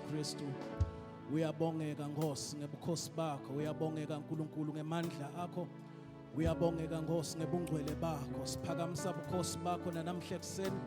Kristu uyabongeka Nkosi ngebukhosi bakho uyabongeka Nkulunkulu ngemandla akho uyabongeka Nkosi ngebungcwele bakho siphakamisa bukhosi bakho nanamhle kuseni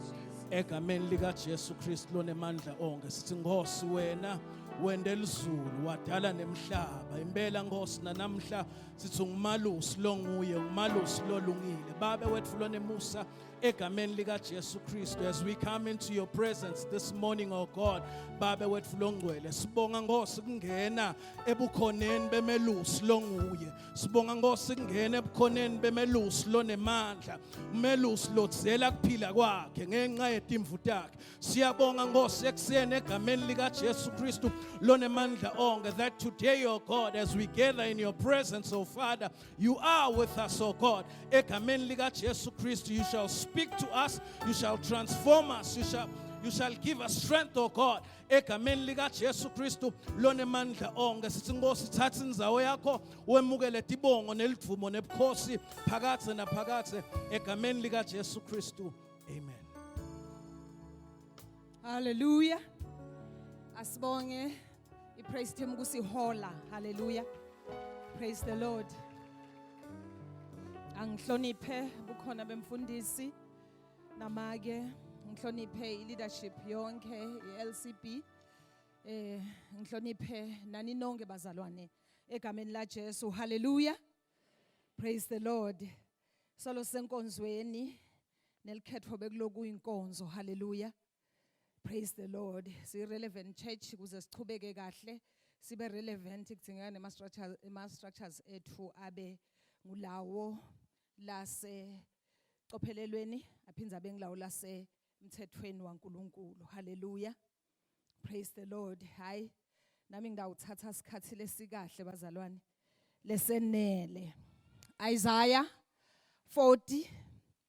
egameni lika Jesu Kristu lonemandla onke sithi Nkosi wena wende elizulu wadala nemhlaba impela Nkosi nanamhla sithi ungumalusi longuye umalusi lolungile babe wethu lonemusa egameni likaJesu Kristu as we come into your presence this morning oh God babe wethu longcwele sibonga ngosi kungena ebukhoneni bemelusi longuye sibonga ngosi kungena ebukhoneni bemelusi lonemandla umelusi lodzela kuphila kwakhe ngenxa yetimvu takhe siyabonga ngosi ekuseni egameni likaJesu Kristu lonemandla onke that today oh God as we gather in your presence oh Father You are with us, O God. Egameni lika Jesu Kristu, you shall speak to us, you shall transform us, you shall you shall give us strength, O God. Egameni lika Jesu Kristu lonemandla onke sithi Nkosi thatha inzawo yakho wemukele tibongo nelivumo nebukhosi phakathe naphakathe egameni lika Jesu Kristu. Amen. Hallelujah. Asibonge I praise team kusihola. Hallelujah. Praise the Lord. Angihloniphe bukhona bemfundisi namake ngihloniphe i leadership yonke i LCB. Eh ngihloniphe nani nonke bazalwane egameni la Jesu. Hallelujah. Praise the Lord. Solo senkonzweni nelikhethwa bekuloku inkonzo. Hallelujah. Praise the Lord. Si relevant church kuze sichubeke kahle sibe relevant kudingeka nema structures ema structures ethu abe ngulawo lase cophelelweni aphinda abe ngulawo lase mthethweni waNkuluNkulu. Hallelujah. Praise the Lord. Hi. Nami ngidawuthatha isikhathi lesikahle bazalwane. Lesenele. Isaiah 40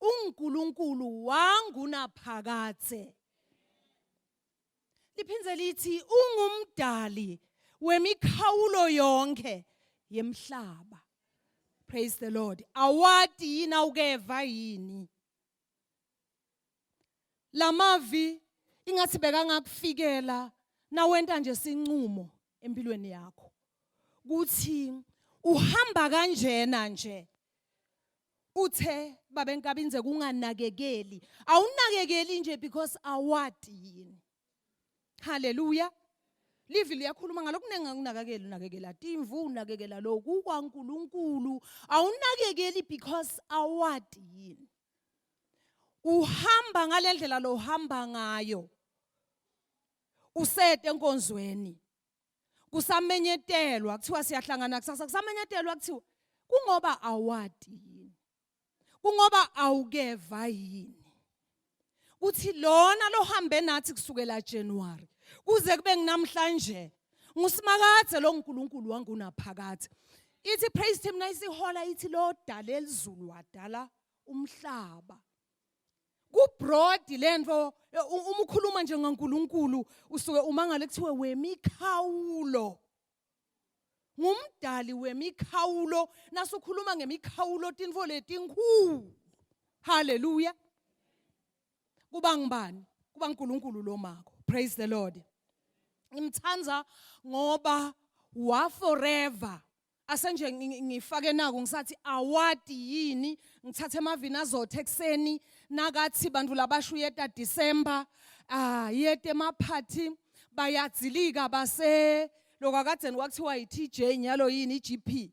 uNkulunkulu wangunaphakade liphinde lithi ungumdali wemikhawulo yonke yemhlaba praise the lord awadi yini awukeva yini lamavi ingathi bekangakufikela nawenta nje sinqumo empilweni yakho kuthi uhamba kanjena nje uthe babe nkabinze kunganakekeli awunakekeli nje because awadi yini haleluya livi liyakhuluma ngalokhu kuningi anginakakeli unakekela timvu unakekela lokhu kwankulunkulu awunakekeli because awadi yini uhamba ngale ndlela lo uhamba ngayo usete enkonzweni kusamenyetelwa kuthiwa siyahlangana kusasa kusamenyetelwa kuthiwa kungoba awati yini kungoba awukeva yini kuthi lona lohambe nathi kusukela January kuze kube nginamhlanje ngusimakade lo nkulunkulu wangunaphakade ithi praise team nayisihola ithi lo dala elizulu wadala umhlaba kubroad lento uma ukhuluma nje ngaNkuluNkulu usuke umangale kuthiwe wemikhawulo ngumdali wemikhawulo nasukhuluma ngemikhawulo tinfo letinkhulu haleluya kuba ngubani kuba uNkulunkulu lo mako praise the lord ngimthanda ngoba wa forever asenje ngifake naku ngisathi awadi yini ngithathe amavini azothe ekseni nakathi bantu labasho uyeta December ah yete maphathi bayadzilika base lokakadeni kwakuthiwa yiTJ nyalo yini iGP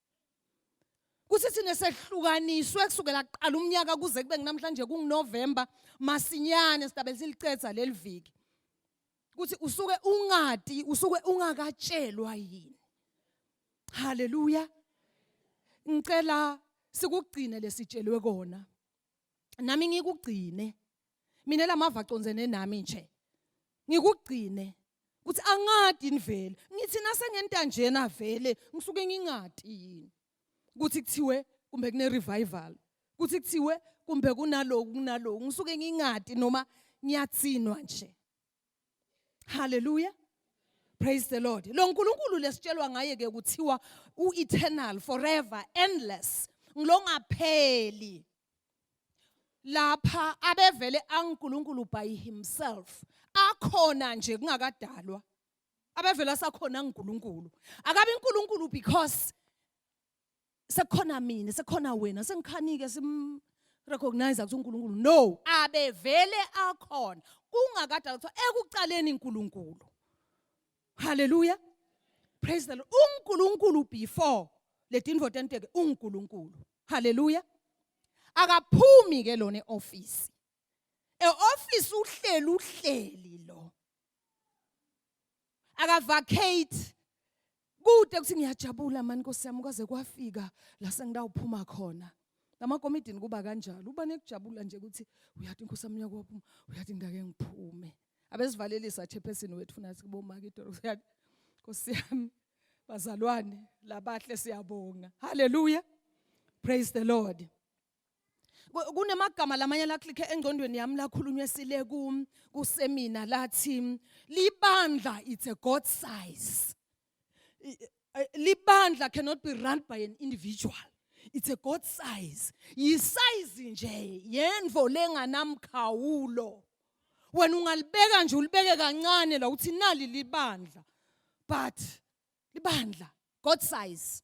kuthi thina sehlukaniswe kusukela kuqala umnyaka kuze kube kunamhlanje kunguNovember masinyane sidabe silicetha leli viki ukuthi usuke ungadi usuke ungakatshelwa yini haleluya ngicela sikugcine lesitshelwe kona nami ngikugcine mina lamava acondzene nami nje ngikugcine ukuthi angadi nivele ngithi nasengenta njena vele ngisuke ngingadi yini ukuthi kuthiwe kumbe kune revival ukuthi kuthiwe kumbe kunaloku kunaloku ngisuke ngingadi noma ngiyatsinwa nje haleluya praise the lord lo nkulunkulu lesitshelwa ngaye ke kuthiwa u-eternal forever endless ngilongapheli lapha abevele anguNkulunkulu by himself akhona nje kungakadalwa abevele asakhona nguNkulunkulu akabe uNkulunkulu because sekukhona mina sekukhona wena sengikhanike sim recognize ukuthi uNkulunkulu no abevele akhona kungakadala ukuthi ekuqaleni uNkulunkulu haleluya praise the lord uNkulunkulu before ledinvo tenteke uNkulunkulu haleluya akaphumi ke lona eoffice eoffice uhleli uhleli lo akavacate kude ukuthi ngiyajabula mani nkosi yami kwaze kwafika la sengidawuphuma khona namakomidini kuba kanjalo uba nekujabula nje ukuthi uyathi inkosi yami uyakuphuma uyathi ngake ngiphume abesivalelisa chairperson wethu funa sikubomaka idolo uyathi nkosi yami bazalwane labahle siyabonga haleluya praise the lord kunemagama lamanye la click engcondweni yami lakhulunywe sile ku kusemina lathi libandla it's a god size libandla cannot be run by an individual it's a god size yisize nje yenvo lenganamkhawulo wena ungalibeka nje ulibeke kancane la uthi nali libandla but libandla god size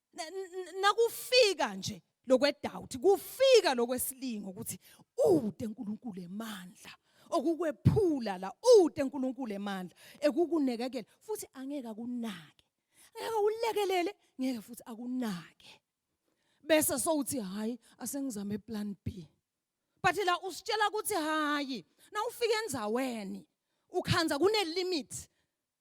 nakufika nje lokwedoubt kufika lokwesilingo ukuthi ude uNkulunkulu emandla okukwephula la ude uNkulunkulu emandla ekukunekekela futhi angeke akunake ngeke ulekelele ngeke futhi akunake bese sowuthi hayi asengizame plan B but la usitshela ukuthi hayi na ufike enzaweni ukhanza kune limit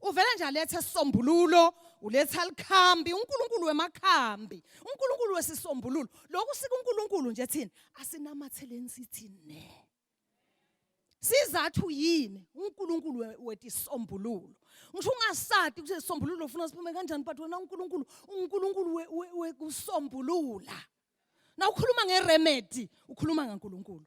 uvele nje alethe isisombululo uletha likhambi uNkulunkulu wemakhambi uNkulunkulu wesisombululo lokhu sika uNkulunkulu nje thina asinamathelen sithi ne sizathu yini uNkulunkulu wethi isombululo ngisho ungasadi ukuthi isombululo ufuna siphume kanjani but wena uNkulunkulu uNkulunkulu wekusombulula na ukhuluma ngeremedy ukhuluma ngaNkulunkulu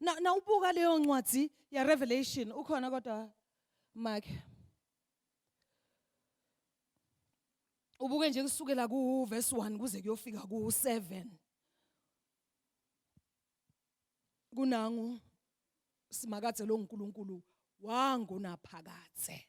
na na ubuka leyo ncwadi ya revelation ukhona kodwa make ubuke nje kusukela ku verse 1 kuze kuyofika ku 7 kunangu simakade lo nkulunkulu wangunaphakade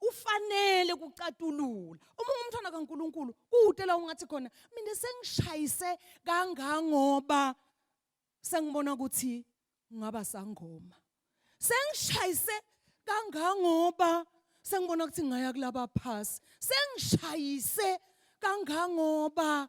ufanele kucatulula uma ungumntwana kaNkuluNkulu kude la ungathi khona mina sengishayise kangangoba sengibona ukuthi ngaba sangoma sengishayise kangangoba sengibona ukuthi ngaya kulaba phasi sengishayise kangangoba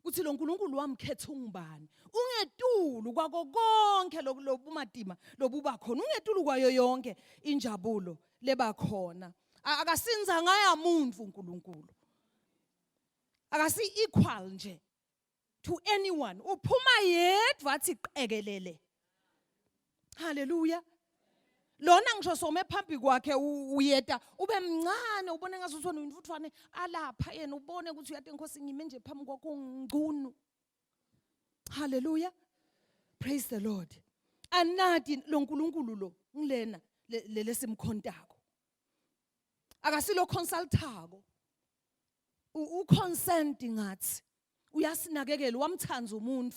ukuthi lo nkulunkulu wamkhetha ungubani ungetulu kwako konke lobumatima lobuba khona ungetulu kwayo yonke injabulo leba khona akasinza ngaya muntu unkulunkulu akasi-equal nje to anyone uphuma yedwa athi qekelele haleluya lona ngisho some phambi kwakhe uyeta ube mncane ubone ngathi uthona umfuthwane alapha yena ubone ukuthi uyade inkosi ngime nje phambi kwakho ungcunu haleluya praise the lord anadi lo nkulunkulu lo ngilena lelesimkhontako akasilo consultako u consent ngathi uyasinakekela wamthanda umuntu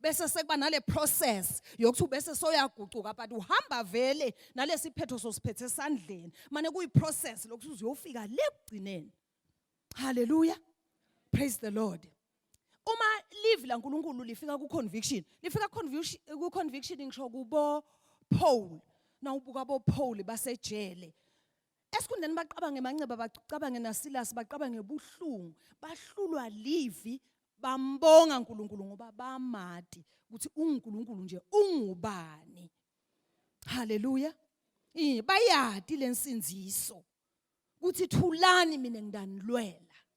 bese sekuba nale process yokuthi bese soyagucuka but uhamba vele nalesiphetho sosiphethe esandleni mane kuyi process lokuthi uzuyofika le kugcineni haleluya praise the lord uma live la nkulunkulu lifika ku conviction lifika ku conviction ngisho kubo Paul nawubuka bo Paul basejele esikhundleni bacabange manxeba bacabange nasilasi bacabange ubuhlungu bahlulwa livi bambonga uNkulunkulu ngoba bamati ukuthi uNkulunkulu nje ungubani haleluya bayati lensinziso ukuthi thulani mina ngidanilwela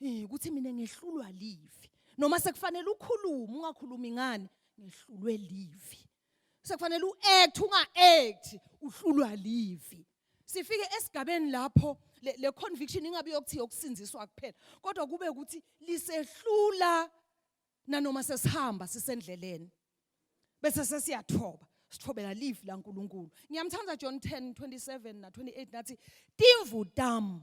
Eh ukuthi mina ngehlulwa live. Noma sekufanele ukhulume ungakhulumi ngani ngehlulwe live. Sekufanele uact unga-act uhlulwa live. Sifike esigabeni lapho le, le conviction ingabe yokuthi yokusinziswa kuphela kodwa kube ukuthi lisehlula nanoma sesihamba sisendleleni bese sesiyathoba sithobela live la uNkulunkulu ngiyamthanda John 10:27 na 28 nathi timvu tam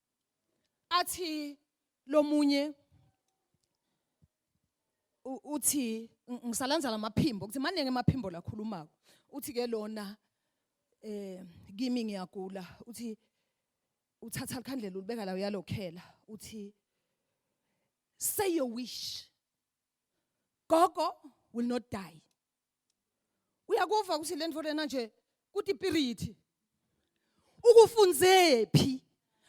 athi lomunye uthi ngisalandzala amaphimbo ukuthi maningi amaphimbo lakhulumako uthi ke lona eh kimi ngiyagula uthi uthatha likhandlela ulibeka la uyalokhela uthi say your wish gogo will not die uyakuva ukuthi le nto lena nje kuthi ipirithi ukufunzephi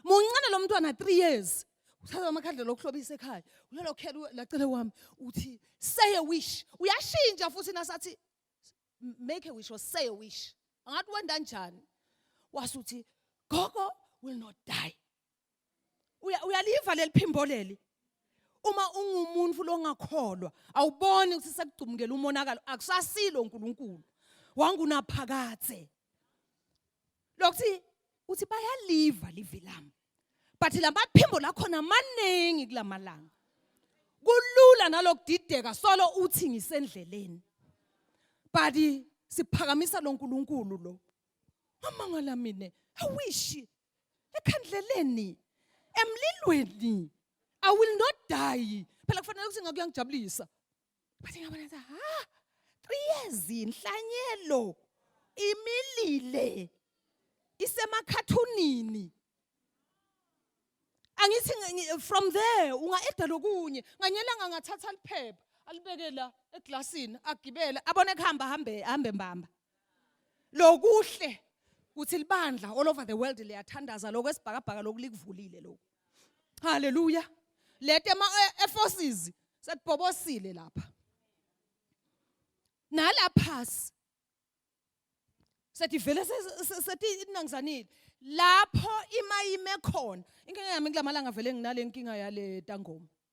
muncane lo mntwana 3 years uthatha amakhandlela okuhlobisa ekhaya uyalokhela lacele wami uthi say a wish uyashintsha futhi nasathi make a wish or say a wish angathi wenda njani wasuthi gogo will not die uya uyaliva leliphimbo leli uma ungumuntu longakholwa awuboni ukuthi sekugcumukela umonakalo akusasilo uNkulunkulu wangunaphakathe lokuthi uthi bayaliva livi lami but lamaphimbo lakhona maningi kulamalanga kulula nalokudideka solo uthi ngisendleleni but siphakamisa loNkulunkulu lo amangala mina awishi ekhandleleni emlilweni i will not die phela kufanele ukuthi ngakuyangijabulisa but ngabona ukuthi ha 3 years inhlanyelo imilile isemakhathunini angithi from there unga eda lokunye nganyelanga ngathatha liphepha alibeke la eglasini agibele abone kuhamba hambe hambe mbamba lokuhle kuthi libandla all over the world liyathandaza lokho esibhakabhaka lokhu likuvulile lokhu haleluya lete ama e, forces sekubhobosile lapha nalaphasi sedivele sethi inangizanile lapho imayime khona inkinga yami kulamalanga vele nginale nkinga yale tangoma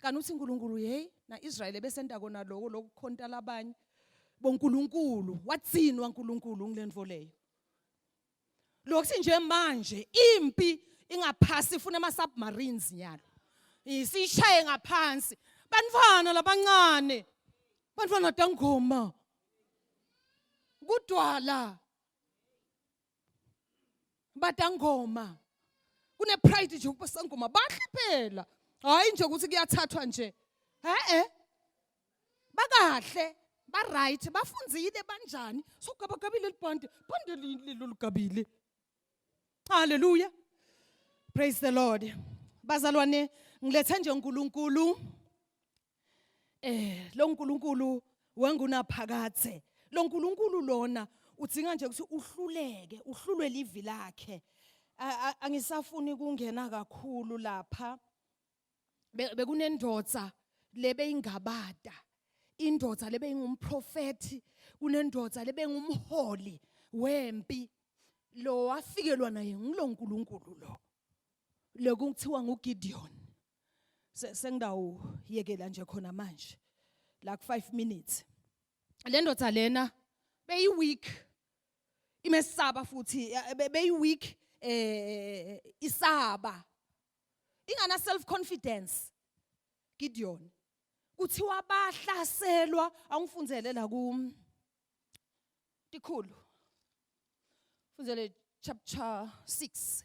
kanti uthi uNkulunkulu hey na Israel ebesenta kona lokho lokukhonta labanye boNkulunkulu watsinwa uNkulunkulu ngilento leyo lokuthi nje manje impi ingaphasi ifuna ama submarines nyalo isishaye ngaphansi bantwana labancane bantwana dangoma kudwala Badangoma. Kune pride nje ubasangoma bahle phela. Hayi nje ukuthi kuyathathwa nje. Eh eh. Bakahle, ba right, bafunzile banjani? So gaba gabile libhande, bhande leli lolugabile. Hallelujah. Praise the Lord. Bazalwane, ngilethe nje uNkulunkulu eh lo nkulunkulu wangunaphakathe lo nkulunkulu lona udzinga nje ukuthi uhluleke uhlulwe livi lakhe angisafuni kungena kakhulu lapha bekunendoda lebeyingabada indoda lebeyingumprofeti kunendoda lebengumholi wempi lo wafikelwa naye ngulonkulunkulu lo lokuthiwa nguGideon sengidawuyekela nje khona manje like 5 minutes le ndoda lena beyi week imesaba futhi beyi week eh isaba ingana self confidence Gideon kuthiwa bahlaselwa angifundzele la ku tikhulu fundzele chapter 6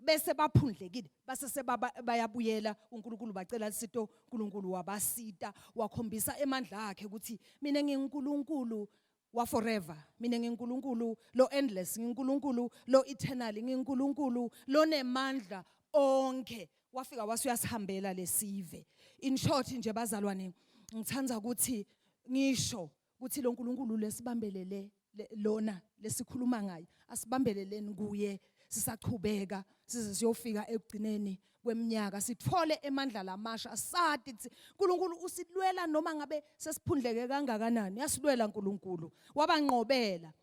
bese baphundlekile base sebayabuyela uNkulunkulu bacela lisito uNkulunkulu wabasita wakhombisa emandla akhe ukuthi mina nginguNkulunkulu wa forever mina nginguNkulunkulu lo endless nginguNkulunkulu lo eternal nginguNkulunkulu lonemandla onke wafika wasuyasihambela lesive in short nje bazalwane ngithanda ukuthi ngisho kuthi lo Nkulunkulu lesibambelele lona lesikhuluma ngaye asibambeleleni kuye sisachubeka size siyofika ekugcineni kweminyaka sithole emandla lamasha sati ukuthi uNkulunkulu usilwela noma ngabe sesiphundleke kangakanani yasilwela uNkulunkulu wabanqobela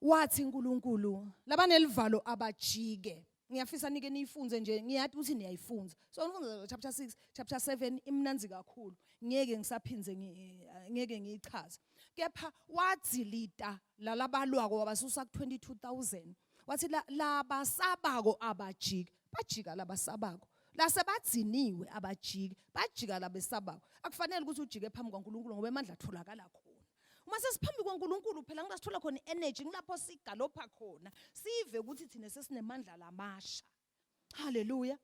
wathi uNkulunkulu labanelivalo abajike ngiyafisa nike niyifunze nje ngiyathi ukuthi niyayifunza so nifunza chapter 6 chapter 7 imnanzi kakhulu ngeke ngisaphinde ngeke ngiyichaze kepha wadzilita lalabalwako wabasusa ku 22000 wathi labasabako abajika bajika labasabako lase badziniwe abajiki bajika labesabako akufanele ukuthi ujike phambi kwaNkulunkulu ngoba emandla atholakala khona uma sesiphambi kwaNkulunkulu phela ngila sithola khona i-energy ngilapho sigalopha khona sive ukuthi thina sesinemandla lamasha haleluya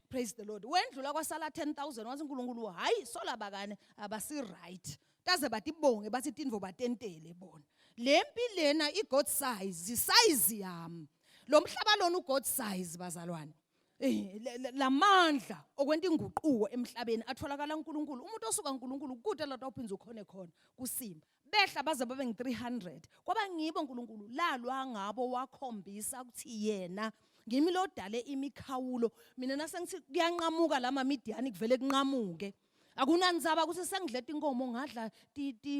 praise the lord wendlula kwasala 10000 wathi uNkulunkulu hayi sola bakane abasi right kaze batibonge bathi tinvo batentele bona lempi lena i god size size yami lo mhlaba lona u god size bazalwane Eh, lamandla okwenta inguquko emhlabeni atholakala uNkulunkulu umuntu osuka uNkulunkulu kude lado uphindze ukhone khona kusimba behla baze babe ngi300 kwaba ngibo uNkulunkulu lalwa ngabo wakhombisa ukuthi yena ngimi lodale imikhawulo mina nasengithi kuyanqamuka lama midiyani kuvele kunqamuke akunanzaba ukuthi sengidleta inkomo ngadla ti ti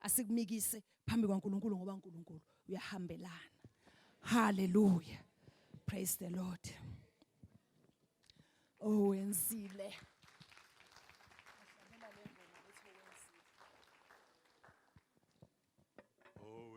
asikumikise phambi kwaNkulunkulu ngoba uNkulunkulu uyahambelana haleluya praise the lord owenzile oh,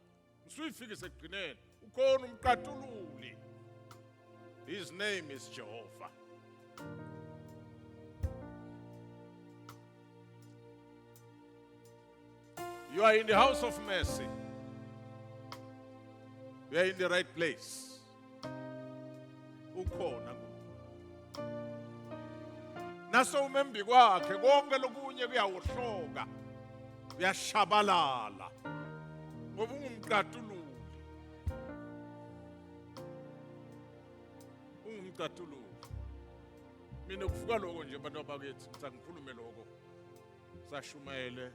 usuyifikise ekugcineni ukhona umqatululi his name is jehova you are in the house of mercy you are in the right place ukhona nase umembi kwakhe konke lokunye kuyawohloka uyashabalala ngoba ungumqatululi ungumqatululi mina kuvuka lokho nje abantu abakithi ngithi angikhulume lokho sashumayele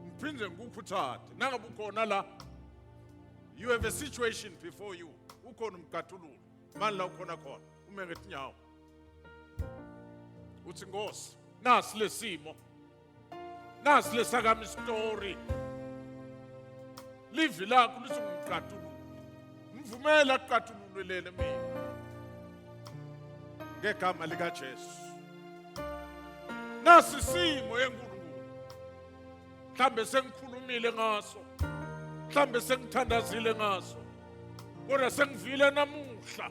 ngiphinde ngikukhuthade nangabe ukhona la you have a situation before you ukhona umgatululo mani la ukhona khona ume ngetinyawo uthi nkosi nasi lesimo nasi lesakami story livi lakho lisungumgatululo Mvumela kuqathululele mina. Ngegama lika Jesu. Nasi simo enkulunkulu. Mhlambe sengikhulumile ngaso. Mhlambe sengithandazile ngaso. Kodwa sengivile namuhla.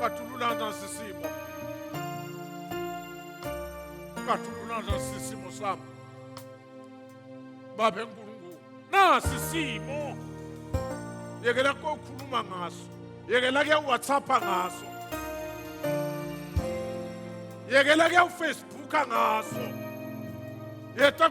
Katululana sisimo. Katululana sisimo sami. Baba eNkulunkulu, nasi isimo. Yekela kokhuluma ngaso. Yekela ke WhatsApp ngaso. Yekela ke uFacebook ngaso. Yeta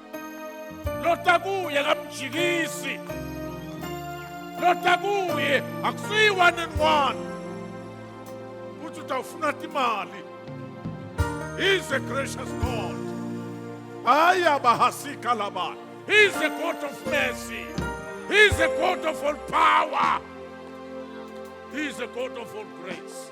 lota kuye kamjikisi lota kuye akusiyi one and one ukuthi utawufuna timali he's a gracious god hayi abahasika labana he's a god of mercy he's a god of all power he's a god of all grace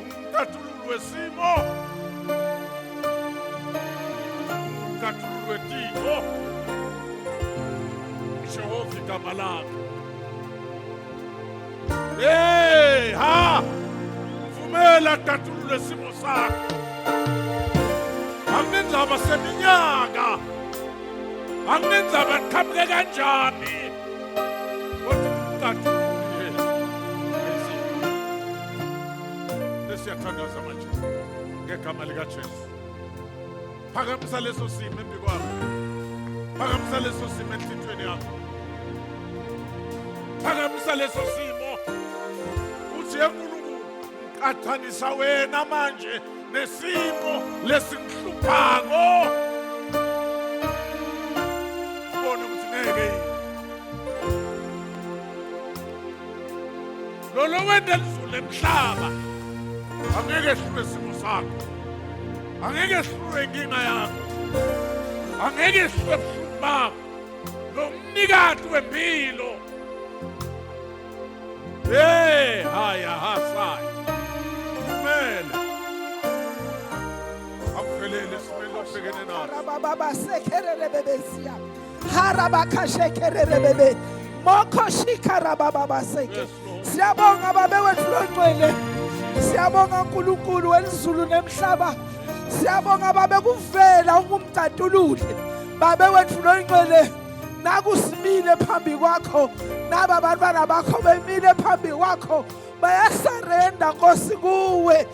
Umkhathululi wesimo. Umkhathululi wetiko. Jehova igama lakhe. Hey, ha! Vumela khathulule simo sakho. Anginendaba seminyaka. Anginendaba qhamuke kanjani. Siyathandaza manje ngegama likaJesu. Phakamisa leso simo embi kwami. Phakamisa leso simo enhlitweni yakho. Phakamisa leso simo. Uthi eNkulunkulu qathanisa wena manje nesimo lesinhluphako. Ubone ukuthi ngeke yini. lona wenda lizulu emhlaba angeke ehlule isimo sakho angeke ehlule inkinga yakho angeke ehlule ebuhlungu bakho lo mnikati wempilo Hey, haya hasaya. Kumele. Akuvelele simele obhekene naso. Baba baba sekherele bebeziya. harabakashekererebebe mokhoshikharabababaseke siyabonga babe wethu longcwele siyabonga unkulunkulu welizulu nemhlaba siyabonga babe kuvela ukumtatulule babe wethu longcwele nakusimile phambi kwakho naba bantwana bakho bemile phambi kwakho bayasarenda nkosi kuwe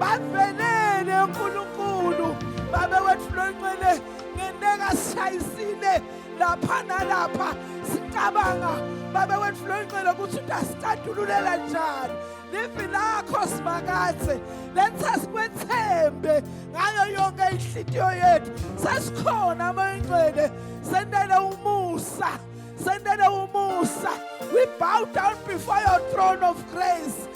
bavelele uNkulunkulu babe wethu lonxele ngeneka sishayisile lapha nalapha sicabanga babe wethu lonxele ukuthi utasicadululela njani livi lakho simakathe lenza sikwethembe ngayo yonke inhlitiyo yethu sesikhona amoyinxele sendele umusa sendele umusa we bow down before your throne of grace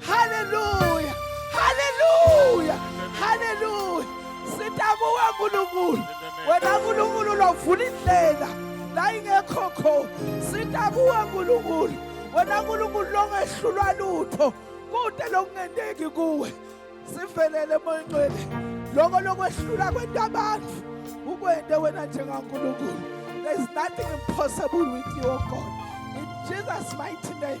Hallelujah! Hallelujah! Hallelujah! Sitamuka Nkulunkulu. Wena Nkulunkulu lovula indlela la ingekho khona. Sitamuka Nkulunkulu. Wena Nkulunkulu longehlulwa lutho. Kude lokungenteki kuwe. Sivelele moyingcwele. Lokho lokwehlula kwento abantu. Ukwente wena njengaNkulunkulu. There's nothing impossible with you, oh God. In Jesus' mighty name.